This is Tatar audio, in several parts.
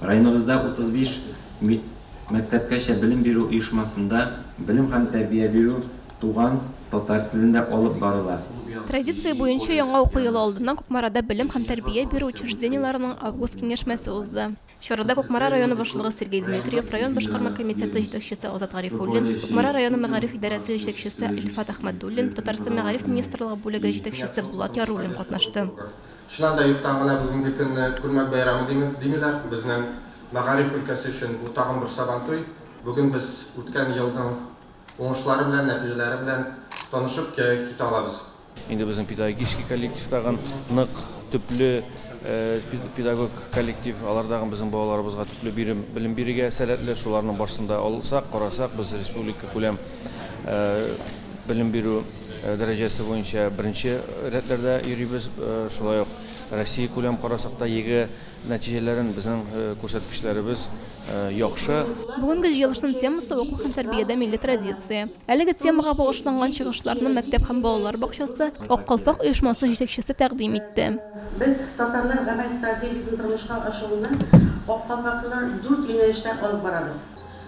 Районыбызда 35 мәктәпкәчә белем бирү оешмасында белем һәм тәрбия бирү туган татар телендә алып барыла. Традиция буенча яңа уку елы алдыннан Кукмарада белем һәм тәрбия бирү учреждениеләренең август киңәшмәсе узды. Чарада Кукмара районы башлыгы Сергей Дмитриев, район башкарма комитеты җитәкчесе Азат Гарифуллин, Кукмара районы мәгариф идарәсе җитәкчесе Илфат Әхмәдуллин, Татарстан Мәгариф министрлыгы бүлеге җитәкчесе Булат Яруллин катнашты. Чыннан да, юктан гына бүгенге көнне Күлмәк бәйрәме димик, димиләр. Безнең мәгариф өлкәсе өчен бу тагын бер Сабантуй. Бүген без үткән елның уңышлары белән, нәтиҗәләре белән танышып китә алабыз. Инде безнең педагогический коллектив тагын нык, төпле педагог коллектив. Алар тагын безнең балаларыбызга төпле бирем, белем бирергә сәләтле. Шуларның барсын да алсак, карасак, без республикакүләм белем бирү, Дәрәҗәсе буенча беренче рәтләрдә йөрибез. Шулай ук Россия күләм карасак та ЕГЭ нәтиҗәләрен безнең күрсәткечләребез яхшы. Бүгенге җыелышның темасы, Уку һәм тәрбиядә милли традиция. Әлеге темага багышланган чыгышларны мәктәп һәм балалар бакчасы Ак калфак оешмасы җитәкчесе тәкъдим итте. Без татарлар гамәл стратегиясен тормышка ашыруны Ак калфаклылар дүрт юнәлештә алып барабыз.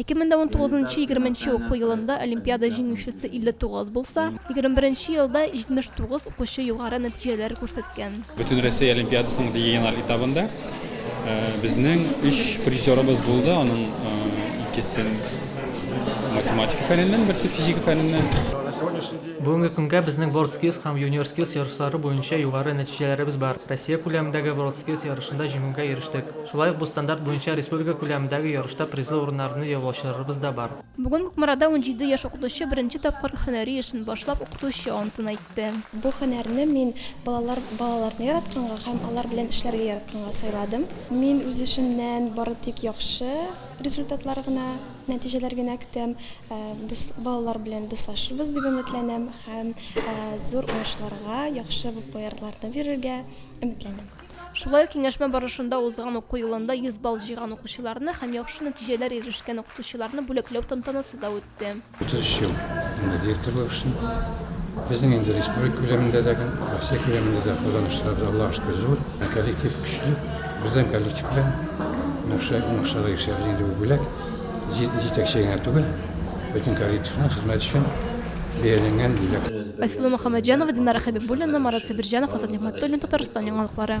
Ике мең дә унтугызынчы егерменче уку елында олимпиада җиңүчесе илле тугыз булса, егерме беренче елда җитмеш тугыз укучы югары нәтиҗәләр күрсәткән. Бөтенроссия олимпиадасының региональ этабында безнең өч призерыбыз булды, аның икесен математика фәненнән, берсе физика фәненнән. Бүгенге көнгә безнең WorldSkills һәм UniorSkills ярышлары буенча югары нәтиҗәләребез бар. Россия күләмендәге WorldSkills ярышында җиңүгә ирештек. Шулай ук бу стандарт буенча республика күләмендәге ярышта призлы урыннарны яулаучыларыбыз да бар. Бүген Кукмарада унҗиде яшь укытучы беренче тапкыр һөнәри эшен башлап, укытучы антын әйтте. Бу һөнәрне мин балалар балаларны яратканга һәм алар белән эшләргә яратканга сайладым. Мин үз эшемнән бары тик яхшы результатлар гына, нәтиҗәләр генә көтәм. Дус балалар белән дуслашырбыз дип өметләнәм һәм зур уңышларга, яхшы популярларны бирергә өметләнәм. Шулай ук киңәшмә барышында узган уку елында 100 балл җыйган укучыларны һәм яхшы нәтиҗәләр ирешкән укытучыларны бүләкләү тантанасы да үтте. 33 ел инде директор булып эшлим. Безнең инде республика күләмендә дә, Россия күләмендә дә казанышларыбыз, Аллага шөкер, зур. Коллектив көчле. Бердәм коллектив белән уңышлар, уңышларга ирешәбез. Инде бу бүләк җи- җитәкче генә түгел, бөтен коллективның хезмәт өчен бәяләнгән, диләр. Айсылу Мөхәммәтҗанова, Динара Хәбибуллина, Марат Сабирҗанов, Азат Нигъмәтуллин, Татарстан яңалыклары.